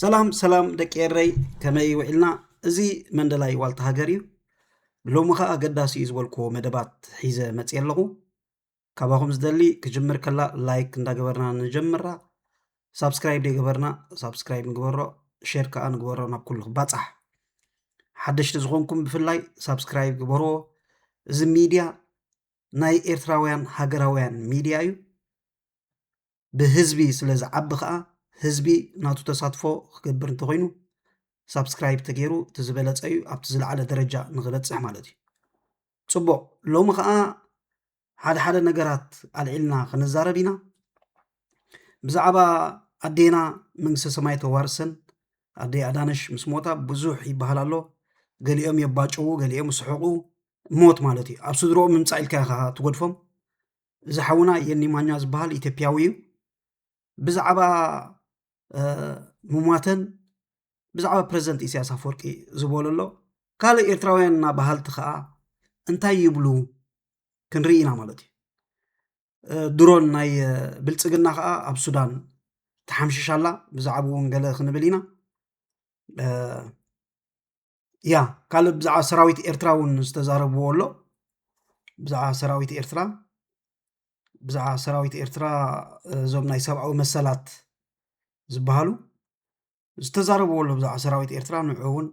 ሰላም ሰላም ደቂ ኤረይ ከመይ ውዒልና እዚ መንደላይ ዋልታ ሃገር እዩ ሎሚ ከዓ ኣገዳሲ እዩ ዝበልክዎ መደባት ሒዘ መፅየ ኣለኹ ካባኹም ዝደሊ ክጅምር ከላ ላይክ እንዳገበርና ንጀምራ ሳብስክራይብ ዘይገበርና ሳብስክራይብ ንግበሮ ሼር ከዓ ንግበሮ ናብ ኩሉ ክባፃሕ ሓደሽቲ ዝኾንኩም ብፍላይ ሳብስክራይብ ግበርዎ እዚ ሚድያ ናይ ኤርትራውያን ሃገራውያን ሚድያ እዩ ብህዝቢ ስለ ዝዓቢ ከዓ ህዝቢ ናቱ ተሳትፎ ክገብር እንተኾይኑ ሳብስክራይብ ተገይሩ እቲ ዝበለፀ እዩ ኣብቲ ዝለዓለ ደረጃ ንክበፅሕ ማለት እዩ ፅቡቅ ሎሚ ከዓ ሓደ ሓደ ነገራት ኣልዒልና ክንዛረብ ኢና ብዛዕባ ኣዴና መንግስተ ሰማይ ተዋርሰን ኣደ ኣዳነሽ ምስ ሞታ ብዙሕ ይበሃል ኣሎ ገሊኦም የባጭዉ ገሊኦም ስሕቁ ሞት ማለት እዩ ኣብ ስድሮኦም ምምፃእ ኢልካ ኢኻ ትጎድፎም እዚ ሓውና የኒ ማኛ ዝበሃል ኢትዮጵያዊ እዩ ብዛዕባ ምሟተን ብዛዕባ ፕረዚደንት ኢሳያስ ኣፈወርቂ ዝበሎ ኣሎ ካልእ ኤርትራውያን እና በሃልቲ ከዓ እንታይ ይብሉ ክንርኢ ኢና ማለት እዩ ድሮን ናይ ብልፅግና ከዓ ኣብ ሱዳን ተሓምሽሻላ ብዛዕባ እውን ገለ ክንብል ኢና ያ ካልእ ብዛዕባ ሰራዊት ኤርትራ እውን ዝተዛረብዎ ኣሎ ብዛዕባ ሰራዊት ኤርትራ ብዛዕባ ሰራዊት ኤርትራ እዞም ናይ ሰብኣዊ መሰላት ዝበሃሉ ዝተዛረብዎ ኣሎ ብዛዕባ ሰራዊት ኤርትራ ንዑ እውን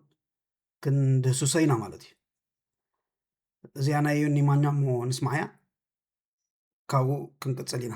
ክንድህስሶ ኢና ማለት እዩ እዚኣ ናይ ዮኒ ማኛ እሞ ንስማዕያ ካብኡ ክንቅፅል ኢና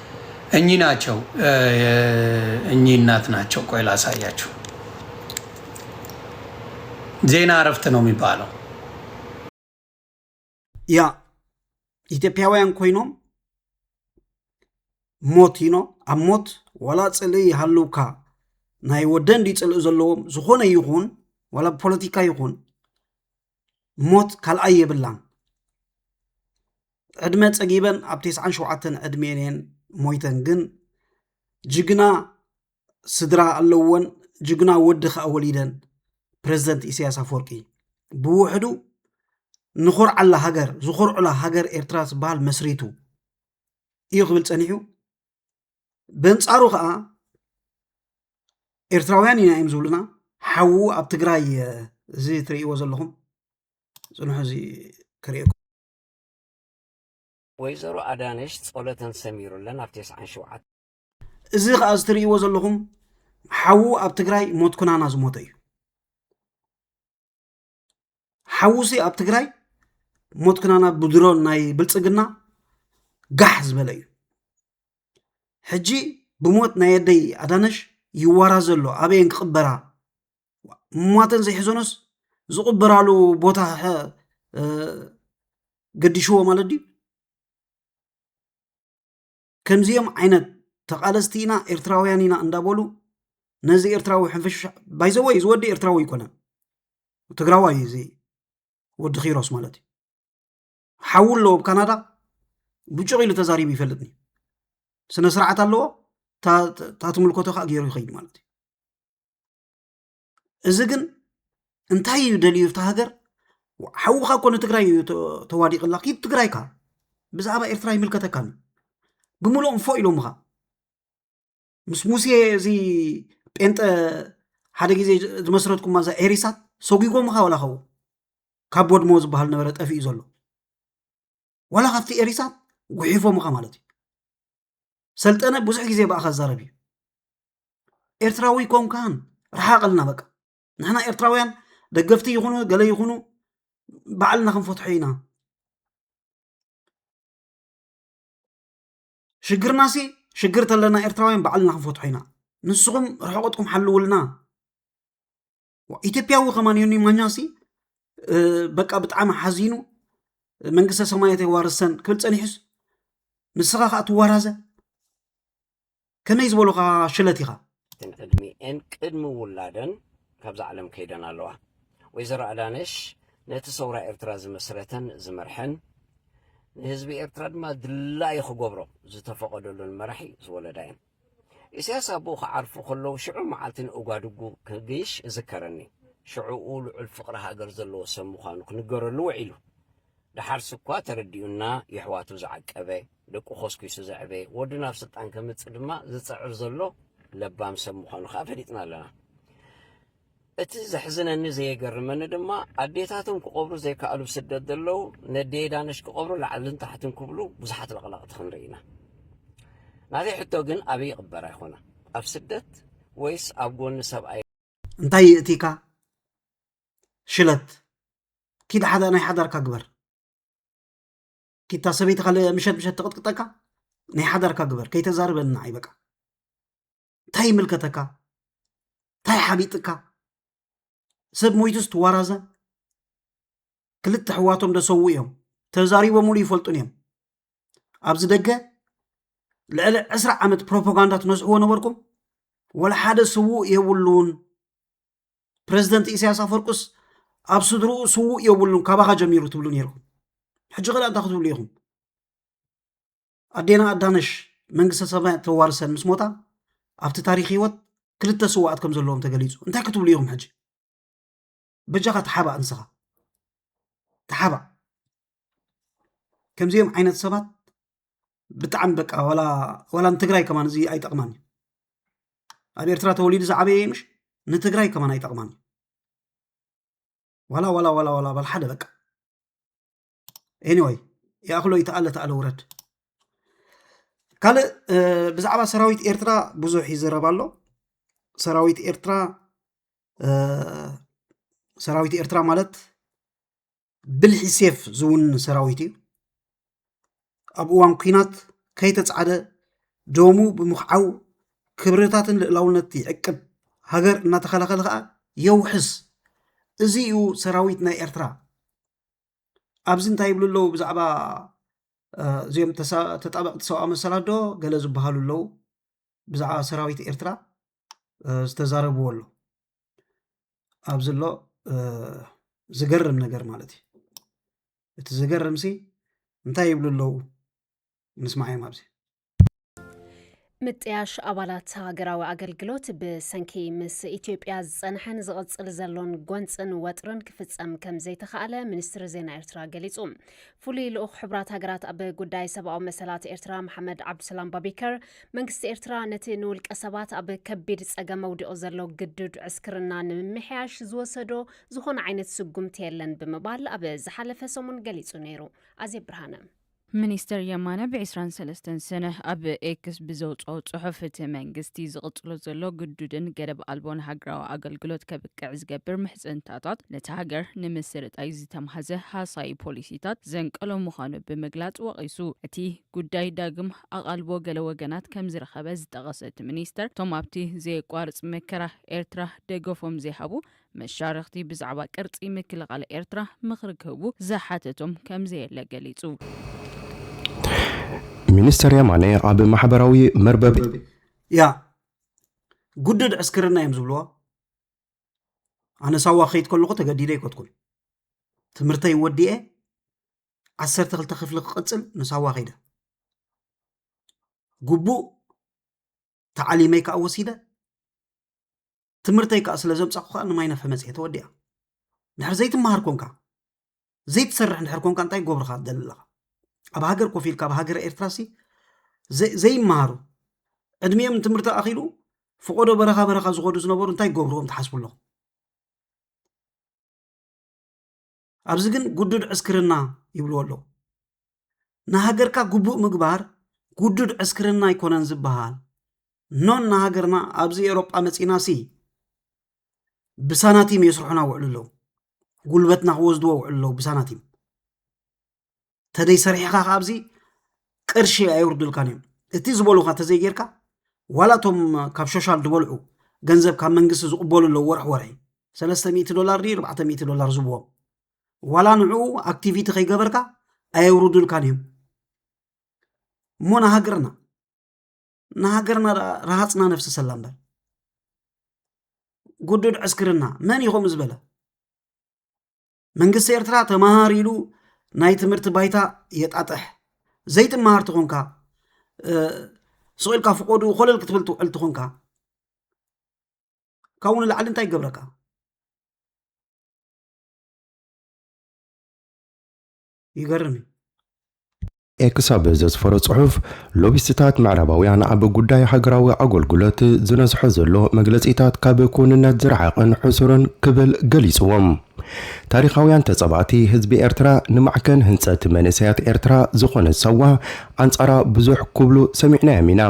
እኚህ ናቸው እኚህ እናት ናቸው። ቆይ ላሳያችሁ። ዜና እረፍት ነው የሚባለው። ያ ኢትዮጵያውያን ኮይኖም ሞት ይኖ ኣብ ሞት ዋላ ፅልኢ ይሃልውካ ናይ ወደን ድዩ ፅልኢ ዘለዎም ዝኾነ ይኹን ዋላ ፖለቲካ ይኹን ሞት ካልኣይ የብላን ዕድመ ፀጊበን ኣብ ቴስዓን ሸውዓተን ዕድሜን እየን ሞይተን ግን ጅግና ስድራ ኣለወን ጅግና ወዲ ከዓ ወሊደን ፕረዚደንት ኢሳያስ ኣፈወርቂ ብውሕዱ ንኾርዓላ ሃገር ዝኾርዑላ ሃገር ኤርትራ ዝበሃል መስሪቱ እዩ ክብል ፀኒሑ በንጻሩ ከዓ ኤርትራውያን ኢና እዮም ዝብሉና ሓዉ ኣብ ትግራይ እዚ ትርእይዎ ዘለኹም ፅንሑ እዚ ክርእየኩም ወይዘሮ ኣዳነሽ ጸሎተን ሰሚሩለን ኣብ ቴስዓን ሸውዓት እዚ ከዓ እዚ ትርእይዎ ዘለኹም ሓዉ ኣብ ትግራይ ሞት ኩናና ዝሞተ እዩ ሓውሲ ኣብ ትግራይ ሞት ክናና ብድሮን ናይ ብልፅግና ጋሕ ዝበለ እዩ ሕጂ ብሞት ናይ ኣደይ ኣዳነሽ ይዋራ ዘሎ ኣበየን ክቕበራ ሟተን ዘይሕዘኖስ ዝቕበራሉ ቦታ ገዲሽዎ ማለት ድዩ ከምዚኦም ዓይነት ተቓለስቲ ኢና ኤርትራውያን ኢና እንዳበሉ ነዚ ኤርትራዊ ሕንፍሽፍሽ ባይዘወይ እዚ ወዲ ኤርትራዊ ኣይኮነን ትግራዋይ እዩ እዚ ወዲ ኪሮስ ማለት እዩ ሓው ኣለዎ ኣብ ካናዳ ብጩቕ ኢሉ ተዛሪቡ ይፈልጥኒ ስነ ስርዓት ኣለዎ እታ ትምልከቶ ከዓ ገይሩ ይኸይድ ማለት እዩ እዚ ግን እንታይ እዩ ደልዩ እታ ሃገር ሓውኻ እኮ ንትግራይ እዩ ተዋዲቕላ ኪድ ትግራይካ ብዛዕባ ኤርትራ ይምልከተካን ብምሉእ እንፎ ኢሎምኻ ምስ ሙሴ እዚ ጴንጠ ሓደ ግዜ ዝመስረትኩማ እዛ ኤሪሳት ሰጒጎምኻ ወላ ኸው ካብ ወድሞ ዝበሃል ነበረ ጠፊኡ ዘሎ ዋላ ካብቲ ኤሪሳት ጉሒፎም ኢኻ ማለት እዩ ሰልጠነ ብዙሕ ግዜ ብኣኻ ዛረብ እዩ ኤርትራዊ ኮንካን ረሓቐልና በቃ ንሕና ኤርትራውያን ደገፍቲ ይኹኑ ገለ ይኹኑ ባዕልና ክንፈትሖ ኢና ሽግርና ሲ ሽግር ተለና ኤርትራውያን ባዕልና ክንፈትሖ ኢና ንስኹም ርሕቐትኩም ሓልውልና ኢትዮጵያዊ ከማን ዮኒ ማኛሲ በቃ ብጣዕሚ ሓዚኑ መንግስተ ሰማያት የዋርሰን ክብል ፀኒሑስ ንስኻ ከዓ ትዋራዘ ከመይ ዝበሉኻ ሽለት ኢኻ እተን ዕድሚኤን ቅድሚ ውላደን ካብዛ ዓለም ከይደን ኣለዋ ወይዘሮ ኣዳነሽ ነቲ ሰውራ ኤርትራ ዝመስረተን ዝመርሐን ንህዝቢ ኤርትራ ድማ ድላዩ ክገብሮ ዝተፈቐደሉን መራሒ ዝወለዳ እየን ኢሳያስ ኣቡኡ ክዓርፉ ከለዉ ሽዑ መዓልቲ ንኡጋዱጉ ክግይሽ እዝከረኒ። ሽዑኡ ልዑል ፍቕሪ ሃገር ዘለዎ ሰብ ምዃኑ ክንገረሉ ውዒሉ። ደሓርስ'ኳ ተረዲኡና የሕዋቱ ዝዓቀበ፣ ደቁ ኮስኪሱ ዘዕበየ፣ ወዱ ናብ ስልጣን ከምጽእ ድማ ዝጽዕር ዘሎ ለባም ሰብ ምዃኑ ከኣ ፈሊጥና ኣለና። እቲ ዘሕዝነኒ ዘየገርመኒ ድማ ኣዴታቶም ክቐብሩ ዘይከኣሉ ስደት ዘለዉ ነዴ ዳነሽ ክቐብሩ ላዕልን ታሕትን ክብሉ ብዙሓት ለቕለቕቲ ክንርኢ ኢና። ናተይ ሕቶ ግን ኣበይ ይቕበራ ይኾና? ኣብ ስደት ወይስ ኣብ ጎኒ ሰብኣይ? እንታይ ይእቲካ ሽለት ኪድ ሓደ ናይ ሓዳርካ ግበር ኪታ ሰበይትካ ምሸት ምሸት ትቕጥቅጠካ ናይ ሓዳርካ ግበር ከይተዛርበኒ ንዓይ በቃ እንታይ ይምልከተካ እንታይ ሓቢጥካ ሰብ ሞይቱስ ትዋራዘ ክልተ ሕዋቶም ደሰዉ እዮም ተዛሪቦምሉ ይፈልጡን እዮም ኣብዚ ደገ ልዕሊ ዕስራ ዓመት ፕሮፓጋንዳ ትነስሕዎ ነበርኩም ወላ ሓደ ስዉእ የብሉን ፕረዚደንት ኢሳያስ ኣፈርቁስ ኣብ ስድርኡ ስዉእ የብሉን ካባኻ ጀሚሩ ትብሉ ነይርኩም ሕጂ ኸዳ እንታይ ክትብሉ ኢኹም ኣዴና ኣዳነሽ መንግስተ ሰማያት ተዋርሰን ምስ ሞታ ኣብቲ ታሪክ ህይወት ክልተ ስዋኣት ከም ዘለዎም ተገሊፁ እንታይ ክትብሉ ኢኹም ሕጂ በጃኻ ተሓባእ ንስኻ ተሓባእ ከምዚኦም ዓይነት ሰባት ብጣዕሚ በቃ ዋላ ንትግራይ ከማን እዚ ኣይጠቕማን እዩ ኣብ ኤርትራ ተወሊዱ ዝዓበየ ምሽ ንትግራይ ከማን ኣይጠቕማን እዩ ዋላ ዋላ ዋላ ዋላ ባል ሓደ በቃ ኤኒወይ ይኣኽሎ ይተኣለ ተኣለ ውረድ ካልእ ብዛዕባ ሰራዊት ኤርትራ ብዙሕ ይዝረብ ኣሎ ሰራዊት ኤርትራ ሰራዊት ኤርትራ ማለት ብልሒ ሴፍ ዝውን ሰራዊት እዩ ኣብ እዋን ኩናት ከይተፃዕደ ደሙ ብምኽዓው ክብርታትን ልእላውነት ይዕቅብ ሃገር እናተኸላኸለ ከዓ የውሕስ እዚ እዩ ሰራዊት ናይ ኤርትራ ኣብዚ እንታይ ይብሉ ኣለዉ ብዛዕባ እዚኦም ተጣበቕቲ ሰብኣዊ መሰላት ዶ ገለ ዝበሃሉ ኣለዉ ብዛዕባ ሰራዊት ኤርትራ ዝተዛረብዎ ኣሎ ኣብዚ ኣሎ ዝገርም ነገር ማለት እዩ እቲ ዝገርምሲ እንታይ ይብሉ ኣለዉ ንስማዕዮም ኣብዚ ምጥያሽ ኣባላት ሃገራዊ ኣገልግሎት ብሰንኪ ምስ ኢትዮጵያ ዝጸንሐን ዝቕጽል ዘሎን ጎንፅን ወጥርን ክፍጸም ከም ዘይተኻእለ ሚኒስትሪ ዜና ኤርትራ ገሊጹ ፍሉይ ልኡኽ ሕብራት ሃገራት ኣብ ጉዳይ ሰብኣዊ መሰላት ኤርትራ መሓመድ ዓብዱሰላም ባቢከር መንግስቲ ኤርትራ ነቲ ንውልቀ ሰባት ኣብ ከቢድ ጸገም መውዲቑ ዘሎ ግዱድ ዕስክርና ንምምሕያሽ ዝወሰዶ ዝኾነ ዓይነት ስጉምቲ የለን ብምባል ኣብ ዝሓለፈ ሰሙን ገሊጹ ነይሩ ኣዜ ብርሃነ ሚኒስተር የማነ ብ ዕስራን ሰለስተን ሰነ ኣብ ኤክስ ብዘውጽኦ ጽሑፍ፣ እቲ መንግስቲ ዝቕጽሎ ዘሎ ግዱድን ገደብ ኣልቦን ሃገራዊ ኣገልግሎት ከብቅዕ ዝገብር ምሕጽንታታት ነታ ሃገር ንምስርጣይ ዝተማህዘ ሃሳዪ ፖሊሲታት ዘንቀሎ ምዃኑ ብምግላጽ ወቒሱ። እቲ ጉዳይ ዳግም ኣቓልቦ ገለ ወገናት ከምዝረኸበ ዝጠቐሰ እቲ ሚኒስተር፣ እቶም ኣብቲ ዘየቋርጽ መከራ ኤርትራ ደገፎም ዘይሃቡ መሻርኽቲ ብዛዕባ ቅርጺ ምክልኻል ኤርትራ ምኽሪ ክህቡ ዝሓተቶም ከምዘየለ ገሊጹ። ሚኒስተር የማነ ኣብ ማሕበራዊ መርበብ ያ ጉድድ ዕስክርና እዮም ዝብልዎ ኣነ ሳዋ ከይት ከለኹ ተገዲደ ኣይኮትኩን ትምህርተይ ወዲኤ ዓሰርተ ክልተ ክፍሊ ክቕፅል ንሳዋ ከይደ ግቡእ ተዓሊመይ ከዓ ወሲደ ትምህርተይ ከዓ ስለ ዘብጻኹ ከዓ ንማይ ነፍሒ መጺኤ ተወዲኣ ድሕር ዘይትመሃር ኮንካ ዘይትሰርሕ እንድሕር ኮንካ እንታይ ጎብርኻ ትደሊ ኣለኻ ኣብ ሃገር ኮፍ ኢልካ ኣብ ሃገረ ኤርትራሲ ዘይመሃሩ ዕድሜኦም ትምህርቲ ኣኺሉ ፍቆዶ በረኻ በረኻ ዝኾዱ ዝነበሩ እንታይ ገብርዎም ትሓስቡ ኣለኹም ኣብዚ ግን ጉዱድ ዕስክርና ይብልዎ ኣለዉ ንሃገርካ ግቡእ ምግባር ጉዱድ ዕስክርና ኣይኮነን ዝበሃል ኖን ንሃገርና ኣብዚ ኤውሮጳ መፂና ሲ ብሳናቲም የስርሑና ውዕሉ ኣለዉ ጉልበትና ክወስድዎ ውዕሉ ኣለዉ ብሳናቲም ተደይ ሰሪሕኻ ከዓ ኣብዚ ቅርሺ ኣየውርዱልካን እዮም እቲ ዝበሉካ ተዘይጌርካ ዋላ እቶም ካብ ሾሻል ዝበልዑ ገንዘብ ካብ መንግስቲ ዝቕበሉ ኣለዉ ወርሒ ወርሒ ሰለስተ ሚእቲ ዶላር ድዩ ኣርባዕተ ሚእቲ ዶላር ዝብዎም ዋላ ንዕኡ ኣክቲቪቲ ከይገበርካ ኣየውርዱልካን እዮም እሞ ንሃገርና ንሃገርና ረሃፅና ነፍሲ ሰላ እምበር ጉዱድ ዕስክርና መን ኢኹም ዝበለ መንግስቲ ኤርትራ ተመሃር ኢሉ ናይ ትምህርቲ ባይታ የጣጥሕ ዘይትመሃር ትኾንካ ስቂልካ ፍቆዱ ኮለል ክትብል ትውዕል ትኾንካ ካብኡ ንላዕሊ እንታይ ይገብረካ ይገርም እዩ። ክሳብ ዘስፈሮ ጽሑፍ፣ ሎቢስትታት ምዕራባውያን ኣብ ጉዳይ ሃገራዊ ኣገልግሎት ዝነዝሖ ዘሎ መግለጺታት ካብ ክውንነት ዝረሓቐን ሕሱርን ክብል ገሊጽዎም። ታሪኻውያን ተጻባእቲ ህዝቢ ኤርትራ ንማዕከን ህንጸት መንእሰያት ኤርትራ ዝኾነት ሳዋ ኣንጻራ ብዙሕ ክብሉ ሰሚዕናዮም ኢና።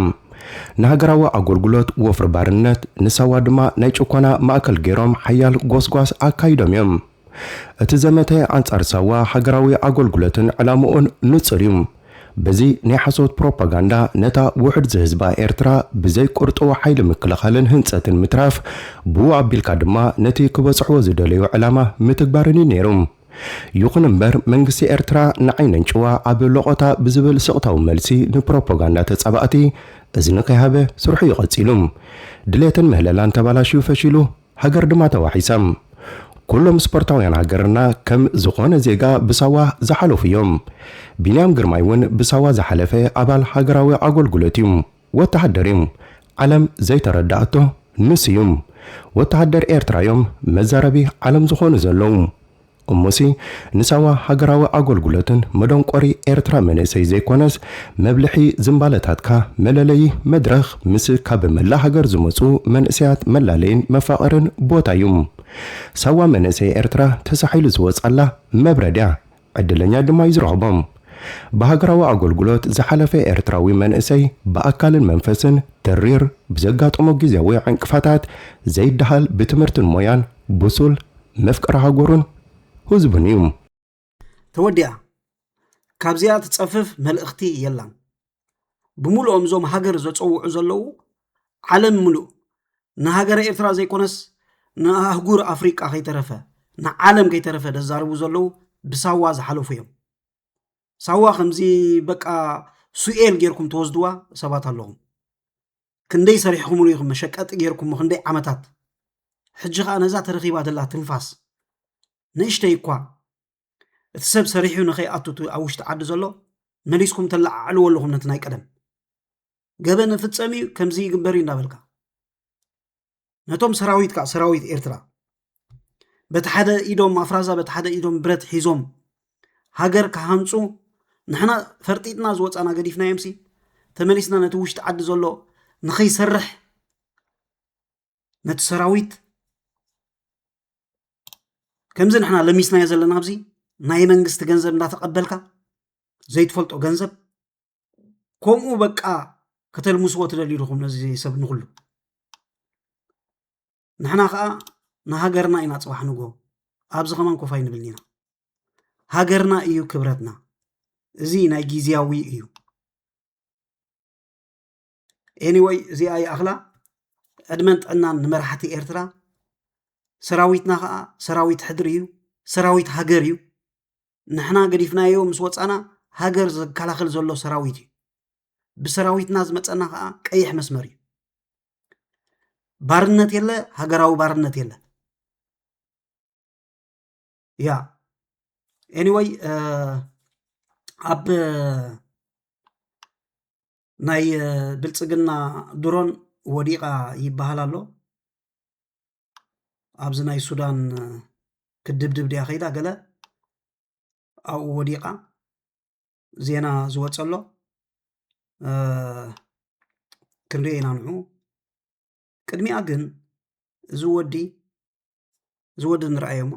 ንሃገራዊ ኣገልግሎት ወፍሪ ባርነት፣ ንሳዋ ድማ ናይ ጭኮና ማእከል ገይሮም ሓያል ጎስጓስ ኣካይዶም እዮም። እቲ ዘመተ ኣንጻር ሳዋ ሃገራዊ ኣጎልጉለትን ዕላምኡን ንጹር እዩ። በዚ ናይ ሓሶት ፕሮፓጋንዳ ነታ ውሑድ ዝህዝባ ኤርትራ ብዘይ ቁርጡው ሓይሊ ምክልኻልን ህንጸትን ምትራፍ፣ ብኡ ኣቢልካ ድማ ነቲ ክበጽሕዎ ዝደለዩ ዕላማ ምትግባርን እዩ ነይሩ። ይኹን እምበር መንግስቲ ኤርትራ ንዓይ ነንጭዋ ኣብ ሎቖታ ብዝብል ስቕታዊ መልሲ ንፕሮፓጋንዳ ተጻባእቲ እዝኒ ከይሃበ ስርሑ እዩ ቀጺሉ። ድሌትን ምህለላን ተባላሽዩ ፈሺሉ። ሃገር ድማ ተዋሒሳ። ኩሎም ስፖርታውያን ሃገርና ከም ዝኾነ ዜጋ ብሳዋ ዝሓለፉ እዮም። ቢንያም ግርማይ እውን ብሳዋ ዝሓለፈ ኣባል ሃገራዊ ኣጎልጉሎት እዩ። ወተሃደር እዩ። ዓለም ዘይተረደኣቶ ንሱ እዩ። ወተሃደር ኤርትራ እዮም መዛረቢ ዓለም ዝኾኑ ዘለዉ። እሞሲ ንሳዋ ሃገራዊ ኣጎልጉሎትን መዶንቆሪ ኤርትራ መንእሰይ ዘይኮነስ መብልሒ ዝምባለታትካ መለለዪ መድረኽ ምስ ካብ መላእ ሃገር ዝመጹ መንእሰያት መላለይን መፋቕርን ቦታ እዩ። ሳዋ መንእሰይ ኤርትራ ተሳሒሉ ዝወጻላ መብረድ እያ። ዕድለኛ ድማ እዩ ዝረኽቦ። ብሃገራዊ ኣጎልጉሎት ዝሓለፈ ኤርትራዊ መንእሰይ ብኣካልን መንፈስን ተሪር ብዘጋጠሞ ግዝያዊ ዕንቅፋታት ዘይደሃል ብትምህርትን ሞያን ብሱል መፍቀሪ ሃገሩን ህዝቡን እዩ። ተወዲኣ ካብዚኣ ትጸፍፍ መልእኽቲ የላን። ብምሉኦም እዞም ሃገር ዘጸውዑ ዘለዉ ዓለም ምሉእ ንሃገረ ኤርትራ ዘይኮነስ ንኣህጉር ኣፍሪቃ ከይተረፈ ንዓለም ከይተረፈ ደዛርቡ ዘለዉ ብሳዋ ዝሓለፉ እዮም ሳዋ ከምዚ በቃ ሱኤል ጌርኩም ተወስድዋ ሰባት ኣለኹም ክንደይ ሰሪሕኹምሉ ኢኹም መሸቀጢ ጌርኩሞ ክንደይ ዓመታት ሕጂ ከዓ ነዛ ተረኺባ ዘላ ትንፋስ ንእሽተይ እኳ እቲ ሰብ ሰሪሑ ንኸይኣቱ ኣብ ውሽጢ ዓዲ ዘሎ መሊስኩም ተለዓዕልዎ ኣለኹም ነቲ ናይ ቀደም ገበን ፍፀም እዩ ከምዚ ይግበር እዩ እንዳበልካ ነቶም ሰራዊት ከዓ ሰራዊት ኤርትራ በቲ ሓደ ኢዶም ኣፍራዛ በቲ ሓደ ኢዶም ብረት ሒዞም ሃገር ክሃንፁ ንሕና ፈርጢጥና ዝወፃና ገዲፍናዮምሲ ተመሊስና ነቲ ውሽጢ ዓዲ ዘሎ ንኸይሰርሕ ነቲ ሰራዊት ከምዚ ንሕና ለሚስናዮ ዘለና ኣብዚ ናይ መንግስቲ ገንዘብ እንዳተቐበልካ ዘይትፈልጦ ገንዘብ ከምኡ በቃ ከተልምስዎ ትደልዩ ድኹም ነዚ ሰብ ንኹሉ ንሕና ከዓ ንሃገርና ኢና ፅባሕ ንጎ ኣብዚ ከማን ኮፍ ኣይንብልን ኢና ሃገርና እዩ ክብረትና እዚ ናይ ግዜያዊ እዩ ኤኒወይ እዚኣ ይኣኽላ ዕድመን ጥዕናን ንመራሕቲ ኤርትራ ሰራዊትና ከዓ ሰራዊት ሕድሪ እዩ ሰራዊት ሃገር እዩ ንሕና ገዲፍናዮ ምስ ወፃና ሃገር ዘከላኽል ዘሎ ሰራዊት እዩ ብሰራዊትና ዝመፀና ከዓ ቀይሕ መስመር እዩ ባርነት የለ ሃገራዊ ባርነት የለ ያ ኤኒወይ ኣብ ናይ ብልፅግና ድሮን ወዲቓ ይበሃል ኣሎ ኣብዚ ናይ ሱዳን ክድብድብ ድያ ከይዳ ገለ ኣብኡ ወዲቓ ዜና ዝወፀሎ ክንሪኦ ኢና ንዑ ቅድሚኣ ግን እዚ ወዲ እዚ ወዲ ንርኣዮ እሞ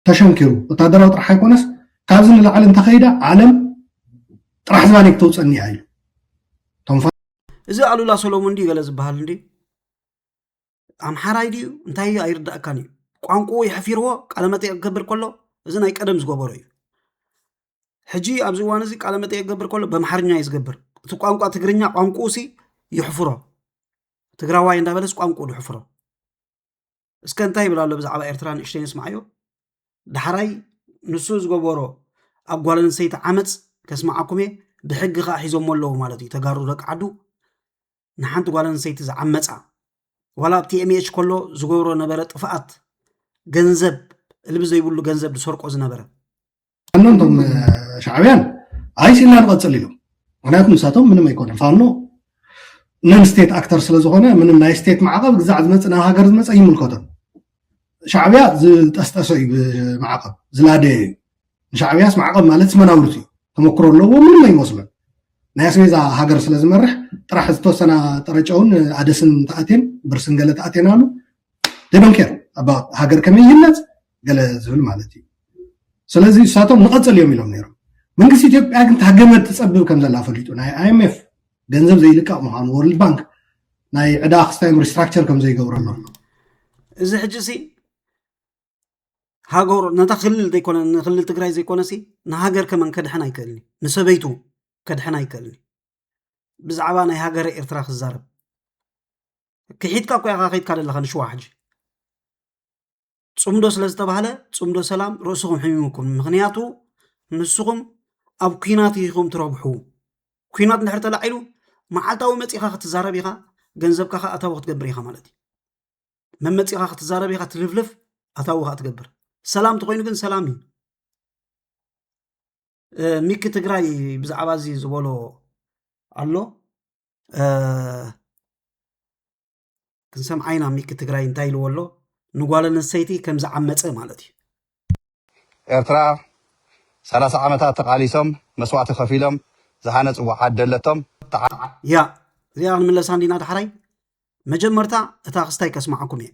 ተሸንኪሩ ወታደራዊ ጥራሕ ኣይኮነስ ካብዚ ንላዕሊ እንተኸይዳ ዓለም ጥራሕ ዝባነይ ክተውፀኒ እያ ኢሉ እዚ ኣሉላ ሰሎሙን እንዲ ገለ ዝበሃል እንዲ ኣምሓራይ ድዩ እንታይ እዩ ኣይርዳእካን እዩ ቋንቁኡ የሕፊርዎ ቃለ መጠየቅ ክገብር ከሎ እዚ ናይ ቀደም ዝገበሮ እዩ ሕጂ ኣብዚ እዋን እዚ ቃለ መጠየቅ ክገብር ከሎ በምሓርኛ እዩ ዝገብር እቲ ቋንቋ ትግርኛ ቋንቁኡ ሲ ይሕፍሮ ትግራዋይ እንዳበለስ ቋንቁኡ ድሕፍሮ እስከ እንታይ ይብል ኣሎ ብዛዕባ ኤርትራ ንእሽተይ ንስምዓዮ ዳሕራይ ንሱ ዝገበሮ ኣብ ጓል ኣንስተይቲ ዓመፅ ከስምዓኩም እየ ብሕጊ ከዓ ሒዞሞ ኣለዉ ማለት እዩ ተጋሩ ደቂ ዓዱ ንሓንቲ ጓል ኣንሰይቲ ዝዓመፃ ዋላ ኣብቲ ኤምኤች ከሎ ዝገብሮ ነበረ ጥፍኣት ገንዘብ እልቢ ዘይብሉ ገንዘብ ዝሰርቆ ዝነበረ እቶም ሻዕብያን ኣይሲ ኢልና ንቐፅል ኢሎም ምክንያቱ ንሳቶም ምንም ኣይኮነ ፋኖ ነን ስቴት ኣክተር ስለዝኾነ ምንም ናይ ስቴት ማዕቐብ ግዛዕ ዝመፅ ናብ ሃገር ዝመፀ ይምልከቶም ሻዕብያ ዝጠስጠሰ እዩ ብማዕቐብ ዝላደየ እዩ ንሻዕብያስ ማዕቐብ ማለትስ መናውርት እዩ ተመክሮ ኣለዎ ምንም ኣይመስሎን ናይ ኣስቤዛ ሃገር ስለ ዝመርሕ ጥራሕ ዝተወሰና ጠረጨውን ኣደስን ተኣቴን ብርስን ገለ ተኣቴን ኣሉ ደዶንኬር ኣብ ሃገር ከመይ ይህነፅ ገለ ዝብል ማለት እዩ ስለዚ እሳቶም ንቐፅል እዮም ኢሎም ነይሮም መንግስቲ ኢትዮጵያ ግን ታገመት ትፀብብ ከም ዘላ ፈሊጡ ናይ ኣይምኤፍ ገንዘብ ዘይልቀቕ ምዃኑ ወርልድ ባንክ ናይ ዕዳ ክስታዮም ሪስትራክቸር ከም ዘይገብረሉ ኣሎ እዚ ሕጂ እዚ ሃገሩ ነታ ክልል ዘይኮነ ንክልል ትግራይ ዘይኮነሲ ንሃገር ከመን ከድሕን ኣይክእልን እዩ ንሰበይቱ ከድሕን ኣይክእልን እዩ ብዛዕባ ናይ ሃገረ ኤርትራ ክዛረብ ክሒድካ እኮ ኢኻ ከይድካ ዘለኻ ንሽዋ ሕጂ ፅምዶ ስለ ዝተባህለ ፅምዶ ሰላም ርእስኹም ሕሚሙኩም ምክንያቱ ንስኹም ኣብ ኩናት ኢኹም ትረብሑ ኩናት እንድሕር ተላዒሉ መዓልታዊ መፂኻ ክትዛረብ ኢኻ ገንዘብካ ከዓ ኣታዊ ክትገብር ኢኻ ማለት እዩ መመፂኻ ክትዛረብ ኢኻ ትልፍልፍ ኣታዊ ካ ትገብር ሰላም ተኮይኑ ግን ሰላም እዩ ሚኪ ትግራይ ብዛዕባ እዚ ዝበሎ ኣሎ ክንሰምዓ ኢና ሚኪ ትግራይ እንታይ ኢልዎ ኣሎ ንጓል ኣንስተይቲ ከም ዝዓመፀ ማለት እዩ ኤርትራ ሰላሳ ዓመታት ተቃሊሶም መስዋእቲ ከፊሎም ዝሃነጽዎ ዓዲ ኣለቶም ተዓ ያ እዚኣ ክንምለሳ እንዲና ዳሕራይ መጀመርታ እታ ክስታይ ከስማዓኩም እየ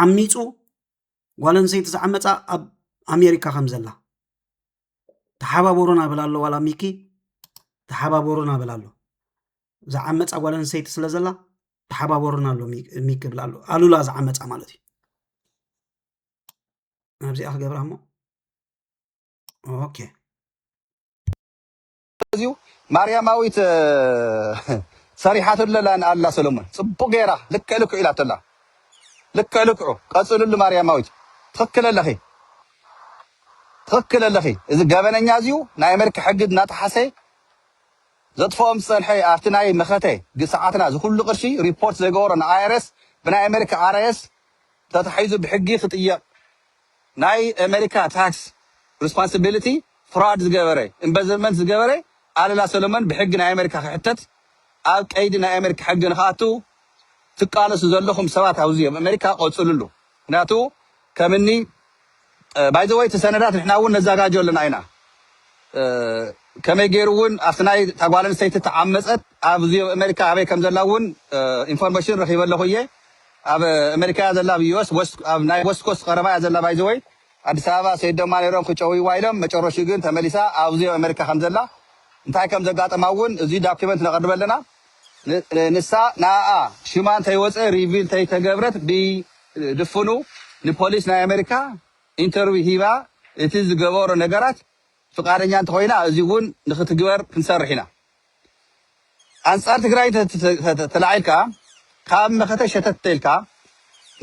ዓሚፁ ጓል ኣንሰይቲ ዝዓመፃ ኣብ ኣሜሪካ ከም ዘላ ተሓባበሩና በላ ኣሎ ዋላ ሚኪ ተሓባበሩና በላ ኣሎ ዝዓመፃ ጓል ኣንሰይቲ ስለ ዘላ ተሓባበሩና ኣሎ ሚኪ ብላ ኣሎ ኣሉላ ዝዓመፃ ማለት እዩ ናብዚኣ ክገብራ እሞ ኦኬ እዚዩ ማርያማዊት ሰሪሓትለላ ኣላ ሰለሙን ፅቡቅ ገይራ ልክዕ ልክዑ ኢላቶላ ልክዕ ልክዑ ቀፅልሉ ማርያማዊት ትኽክል ኣለኺ ትኽክል ኣለኺ እዚ ገበነኛ እዚዩ ናይ ኣሜሪካ ሕጊ እናጠሓሰ ዘጥፍኦም ዝፀንሐ ኣብቲ ናይ መኸተ ግሰዓትና ዝኩሉ ቅርሺ ሪፖርት ዘይገበሮ ንኣይረስ ብናይ ኣሜሪካ ኣርኤስ ተታሒዙ ብሕጊ ክጥየቅ ናይ ኣመሪካ ታክስ ርስፓንስቢሊቲ ፍራድ ዝገበረ ኢንበዝርመንት ዝገበረ ኣለላ ሰለሞን ብሕጊ ናይ ኣመሪካ ክሕተት ኣብ ቀይዲ ናይ ኣመሪካ ሕጊ ንክኣቱ ትቃለሱ ዘለኹም ሰባት ኣውዚ ኣብ ኣመሪካ ቆጽልሉ ምክንያቱ ከምኒ ባይ ዘ ወይ እቲ ሰነዳት ንሕና እውን ነዛጋጆ ኣለና ኢና ከመይ ገይሩ እውን ኣብቲ ናይ እታ ጓል ኣንስተይቲ ተዓመፀት ኣብዚ ኣሜሪካ ኣበይ ከም ዘላ እውን ኢንፎርሜሽን ረኺበ ኣለኹ እየ ኣብ ኣሜሪካ እያ ዘላ ኣብ ዩስ ኣብ ናይ ወስት ኮስት ቀረባ እያ ዘላ ባይ ዘ ወይ ኣዲስ ኣበባ ሰይድ ደማ ነይሮም ክጨውይዋ ኢሎም መጨረሹ ግን ተመሊሳ ኣብዚ ኣሜሪካ ከም ዘላ እንታይ ከም ዘጋጠማ እውን እዚ ዳኪመንት ነቐርበ ኣለና ንሳ ንኣኣ ሽማ እንተይወጸ ሪቪል እንተይተገብረት ብድፉኑ ንፖሊስ ናይ ኣመሪካ ኢንተርቪው ሂባ እቲ ዝገበሮ ነገራት ፍቃደኛ እንተኾይና እዚ ውን ንክትግበር ክንሰርሕ ኢና ኣንጻር ትግራይ እንተተላዒልካ ካብ መኸተ ሸተት እንተኢልካ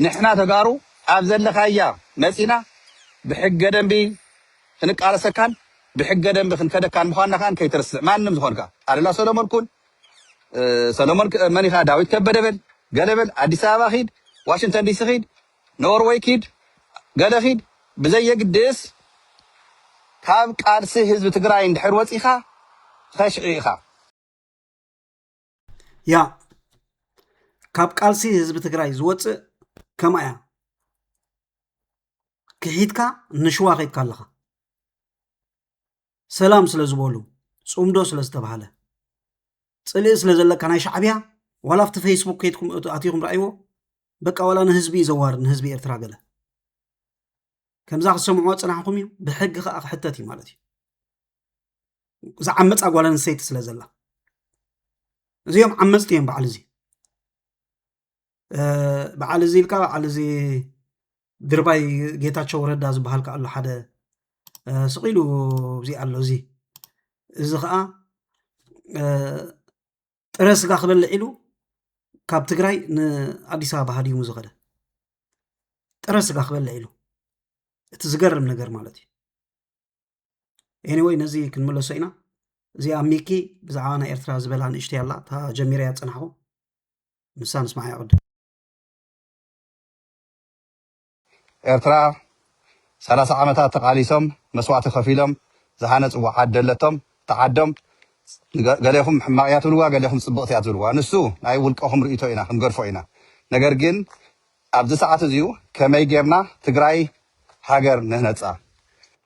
ንሕና ተጋሩ ኣብ ዘለኻያ መጺና ብሕገ ደንቢ ክንቃለሰካን ብሕገ ደንቢ ክንከደካን ምዃንና ከኣ ከይትርስዕ ማንም ዝኾንካ ኣሉላ ሰሎሞን ኩን ሰሎሞን መን ኢኻ ዳዊት ከበደ በል ገለ በል ኣዲስ ኣበባ ኺድ ዋሽንግተን ዲሲ ኺድ ኖርወይ ኪድ ገለ ኺድ ብዘየግድስ ካብ ቃልሲ ህዝቢ ትግራይ እንድሕር ወጺኻ ኸሽዒ ኢኻ። ያ ካብ ቃልሲ ህዝቢ ትግራይ ዝወፅእ ከምኣ እያ ክሒትካ ንሽዋ ከይድካ ኣለኻ ሰላም ስለ ዝበሉ ፅምዶ ስለ ዝተባሃለ ፅልኢ ስለ ዘለካ ናይ ሻዕብያ ዋላ ኣብቲ ፌስቡክ ከይድኩም ኣትኹም ረኣይዎ በቃ ዋላ ንህዝቢ እዩ ዘዋርድ ንህዝቢ ኤርትራ ገለ ከምዛ ክሰምዕዎ ፅናሕኹም እዩ ብሕጊ ከዓ ክሕተት እዩ ማለት እዩ ዝዓመፃ ጓል ኣንስተይቲ ስለ ዘላ እዚኦም ዓመፅቲ እዮም በዓል እዚ በዓል እዚ ኢልካ በዓል እዚ ድርባይ ጌታቸው ረዳ ዝበሃል ከ ኣሎ ሓደ ስቂሉ እዚ ኣሎ እዚ እዚ ከዓ ጥረ ስጋ ክበልዕ ኢሉ ካብ ትግራይ ንኣዲስ ኣበባ ሃዲሙ ዝኸደ ጥረ ስጋ ክበልዕ ኢሉ እቲ ዝገርም ነገር ማለት እዩ ኤኒወይ ነዚ ክንምለሶ ኢና እዚኣ ሚኪ ብዛዕባ ናይ ኤርትራ ዝበላ ንእሽተይ ኣላ እታ ጀሚረያ ፀናሕኹ ንሳ ንስማዕ ይቅድም ኤርትራ ሰላሳ ዓመታት ተቃሊሶም መስዋእቲ ከፊሎም ዝሃነፅዎ ዓዲ ኣለቶም እታ ዓዶም ገሌኹም ሕማቅ እያ ትብልዋ ገሌኹም ፅብቅቲ እያ ትብልዋ ንሱ ናይ ውልቀኹም ርእይቶ ኢና ክንገድፎ ኢና ነገር ግን ኣብዚ ሰዓት እዚዩ ከመይ ጌርና ትግራይ ሃገር ንህነፃ?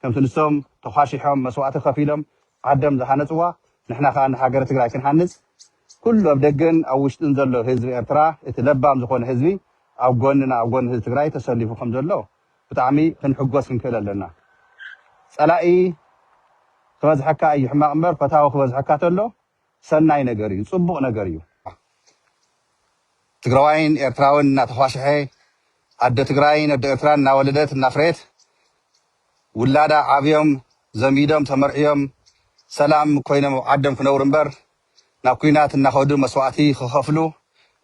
ከምቲ ንሶም ተዃሺሖም መስዋእቲ ከፊሎም ዓዶም ዝሃነፅዋ ንሕና ከዓ ንሃገረ ትግራይ ክንሃንፅ ኩሉ ኣብ ደገን ኣብ ውሽጥን ዘሎ ህዝቢ ኤርትራ እቲ ለባም ዝኾነ ህዝቢ ኣብ ጎንና ኣብ ጎኒ ህዝቢ ትግራይ ተሰሊፉ ከምዘሎ ብጣዕሚ ክንሕጎስ ክንክእል ኣለና። ፀላኢ ክበዝሐካ እዩ ሕማቕ እምበር ፈታዊ ክበዝሐካ ተሎ ሰናይ ነገር እዩ ፅቡቅ ነገር እዩ። ትግራዋይን ኤርትራዊን እናተዃሸሐ ኣደ ትግራይን ኣደ ኤርትራን እናወለደት እናፍረየት ውላዳ ዓብዮም ዘሚዶም ተመርዕዮም ሰላም ኮይኖም ኣብ ዓዶም ክነብሩ እምበር ናብ ኲናት እናኸዱ መስዋእቲ ክኸፍሉ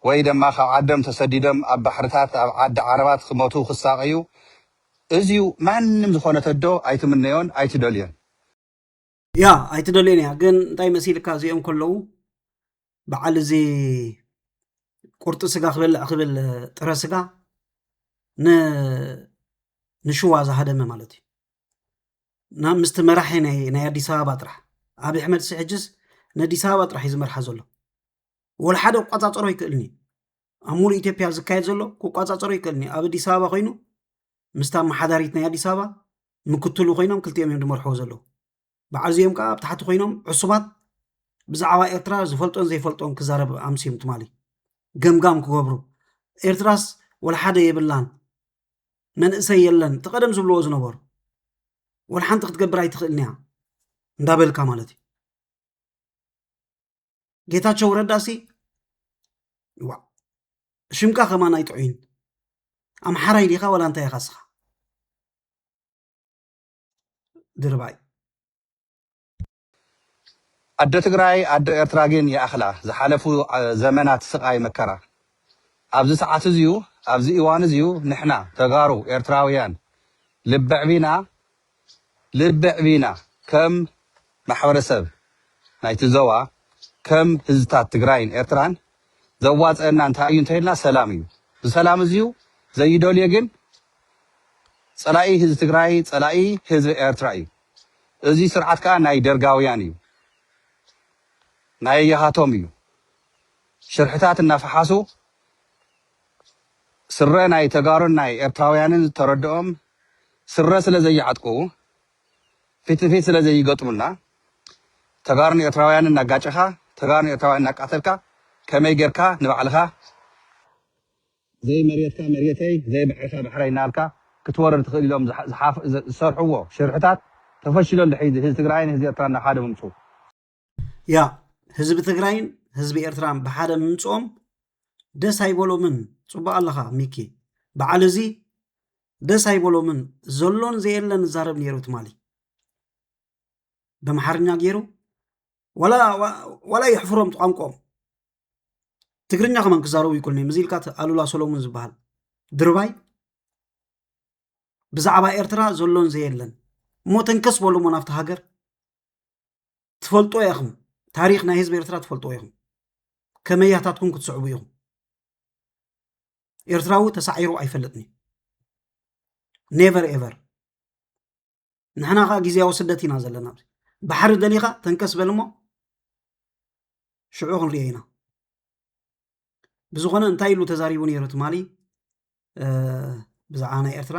ወይ ደማ ካብ ዓዶም ተሰዲዶም ኣብ ባሕርታት ኣብ ዓዲ ዓረባት ክሞቱ ክሳቀዩ እዙይ ማንም ዝኾነት ኣዶ ኣይትምነዮን ኣይትደልዮን። ያ ኣይትደልዮን እያ ግን እንታይ መሲልካ እዚኦም ከለዉ በዓል እዚ ቁርጢ ስጋ ክበልዕ ክብል ጥረ ስጋ ንሽዋ ዝሃደመ ማለት እዩ እና ምስቲ መራሒ ናይ ኣዲስ ኣበባ ጥራሕ ኣብ ኣሕመድ ሲ ሕጅስ ንኣዲስ ኣበባ ጥራሕ እዩ ዝመርሓ ዘሎ ወላ ሓደ ክቋፃፀሮ ይክእልኒ ኣብ ሙሉእ ኢትዮጵያ ዝካየድ ዘሎ ክቋፃፀሮ ይክእልኒ ኣብ ኣዲስ ኣበባ ኮይኑ ምስታ ኣመሓዳሪት ናይ ኣዲስ ኣበባ ምክትሉ ኮይኖም ክልቲኦም እዮም ዝመርሕዎ ዘለዉ በዓል እዚኦም ከዓ ኣብ ታሕቲ ኮይኖም ዕሱባት ብዛዕባ ኤርትራ ዝፈልጦን ዘይፈልጦን ክዛረብ ኣምስዮም ትማሊ ገምጋም ክገብሩ ኤርትራስ ወልሓደ የብላን መንእሰይ የለን እቲ ቀደም ዝብልዎ ዝነበሩ ወልሓንቲ ክትገብር ኣይትኽእልን እያ እንዳበልካ ማለት እዩ ጌታቸው ረዳ ሲ ዋ ሽምካ ከማን ኣይጥዑይን ኣምሓራይ ዲኻ ዋላ እንታይ ኢኻ ስኻ ድርባይ ኣደ ትግራይ ኣደ ኤርትራ ግን ይኣኽላ ዝሓለፉ ዘመናት ስቓይ መከራ ኣብዚ ሰዓት እዚዩ ኣብዚ እዋን እዚዩ ንሕና ተጋሩ ኤርትራውያን ልበዕቢና ልቢ ኣዕቢና ከም ማሕበረሰብ ናይቲ ዞባ ከም ህዝብታት ትግራይን ኤርትራን ዘዋፀኣና እንታይ እዩ እንተይልና ሰላም እዩ ዝሰላም እዙዩ ዘይደልዮ ግን ፀላኢ ህዝቢ ትግራይ ፀላኢ ህዝቢ ኤርትራ እዩ እዙ ስርዓት ከዓ ናይ ደርጋውያን እዩ ናየያሃቶም እዩ ሽርሕታት እናፈሓሱ ስረ ናይ ተጋሩን ናይ ኤርትራውያንን ዝተረድኦም ስረ ስለ ዘይዓጥቁ ፊት ንፊት ስለ ዘይገጥሙና ተጋሩን ኤርትራውያንን እናጋጨኻ ተጋሩን ኤርትራውያን እናቃተልካ ከመይ ጌርካ ንባዕልኻ ዘይመሬትካ መሬተይ ዘይባሕርካ ባሕረይ እናበልካ ክትወርር ትኽእል ኢሎም ዝሰርሕዎ ሽርሕታት ተፈሺሉ ኣሎ ሒዚ ህዚ ትግራይን ህዚ ኤርትራን ናብ ሓደ ምምፅኡ ያ ህዝቢ ትግራይን ህዝቢ ኤርትራን ብሓደ ምምፅኦም ደስ ኣይበሎምን ፅቡቅ ኣለኻ ሚኪ በዓል እዚ ደስ ኣይበሎምን ዘሎን ዘየለን ዛረብ ነይሩ ትማሊ በምሓርኛ ገይሩ ዋላ የሕፍሮም ቋንቋኦም ትግርኛ ከማን ክዛረቡ ይክእሉን እዮም እዚ ኢልካ ኣሉላ ሰሎሙን ዝበሃል ድርባይ ብዛዕባ ኤርትራ ዘሎን ዘየለን እሞ ተንከስ በሉ እሞ ናብቲ ሃገር ትፈልጦ ኢኹም ታሪክ ናይ ህዝቢ ኤርትራ ትፈልጦ ኢኹም ከመያታትኩም ክትስዕቡ ኢኹም ኤርትራዊ ተሳዒሩ ኣይፈልጥን ኔቨር ኤቨር ንሕና ከዓ ግዜያዊ ስደት ኢና ዘለና ባሕሪ ደሊኻ ተንከስ በል እሞ ሽዑ ክንሪኦ ኢና ብዝኾነ እንታይ ኢሉ ተዛሪቡ ነይሩ ትማሊ ብዛዕባ ናይ ኤርትራ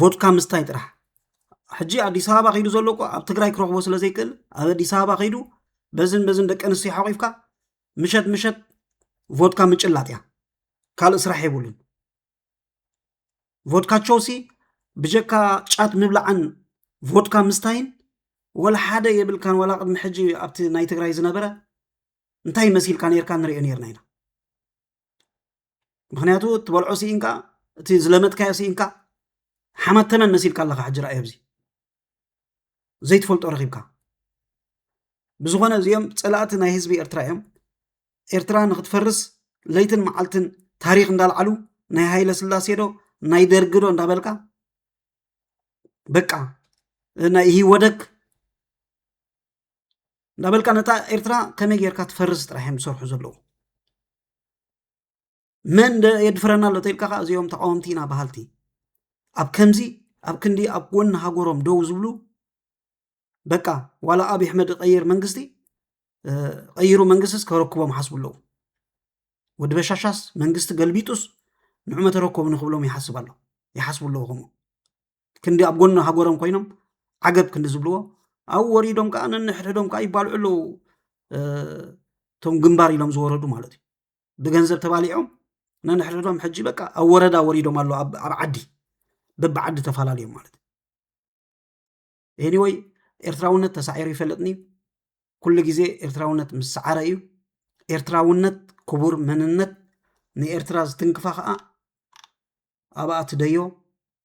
ቮድካ ምስታይ ጥራሕ ሕጂ ኣዲስ ኣበባ ከይዱ ዘሎ እኮ ኣብ ትግራይ ክረኽቦ ስለ ዘይክእል ኣብ ኣዲስ ኣበባ ከይዱ በዝን በዝን ደቂ ኣንስትዮ ሓቂፍካ ምሸት ምሸት ቮድካ ምጭላጥ እያ ካልእ ስራሕ የብሉን ቮድካቸውሲ ብጀካ ጫት ምብላዕን ቮድካ ምስታይን ወላ ሓደ የብልካን ወላ ቅድሚ ሕጂ ኣብቲ ናይ ትግራይ ዝነበረ እንታይ መሲልካ ነርካ ንሪኦ ነርና ኢና ምክንያቱ እትበልዖ ስኢንካ እቲ ዝለመትካዮ ስኢንካ ሓማት ተመን መሲልካ ኣለካ ሕጂ ረኣዮ ብዚ ዘይትፈልጦ ረኪብካ ብዝኾነ እዚኦም ፀላእቲ ናይ ህዝቢ ኤርትራ እዮም ኤርትራ ንክትፈርስ ለይትን መዓልትን ታሪክ እንዳልዓሉ ናይ ሃይለ ስላሴ ዶ ናይ ደርጊ ዶ እንዳበልካ በቃ ናይ ኢህወደግ እንዳበልካ ነታ ኤርትራ ከመይ ጌርካ ትፈርስ ጥራሕ እዮም ዝሰርሑ ዘለዉ መን የድፍረና ኣሎ ተልካ ከዓ እዚኦም ተቃወምቲ ኢና በሃልቲ ኣብ ከምዚ ኣብ ክንዲ ኣብ ጎኒ ሃገሮም ደው ዝብሉ በቃ ዋላ ኣብ ኣሕመድ ቀይር መንግስቲ ቀይሩ መንግስቲስ ከረክቦም ሓስቡ ኣለዉ ወዲ በሻሻስ መንግስቲ ገልቢጡስ ንዑ መተረከቡ ንክብሎም ይሓስብ ኣሎ ይሓስቡ ኣለዉ ከምኡ ክንዲ ኣብ ጎኒ ሃገሮም ኮይኖም ዓገብ ክንዲ ዝብልዎ ኣብኡ ወሪዶም ከዓ ነንሕድሕዶም ከዓ ይባልዑ ኣለዉ እቶም ግንባር ኢሎም ዝወረዱ ማለት እዩ ብገንዘብ ተባሊዖም ነንሕድሕዶም ሕጂ በቃ ኣብ ወረዳ ወሪዶም ኣለዉ ኣብ ዓዲ በቢ ዓዲ ተፈላለዮም ማለት እዩ ኤኒወይ ኤርትራውነት ተሳዒሩ ይፈለጥኒ ኩሉ ግዜ ኤርትራውነት ምስ ሰዓረ እዩ ኤርትራውነት ክቡር መንነት ንኤርትራ ዝትንክፋ ከዓ ኣብኣ ትደዮ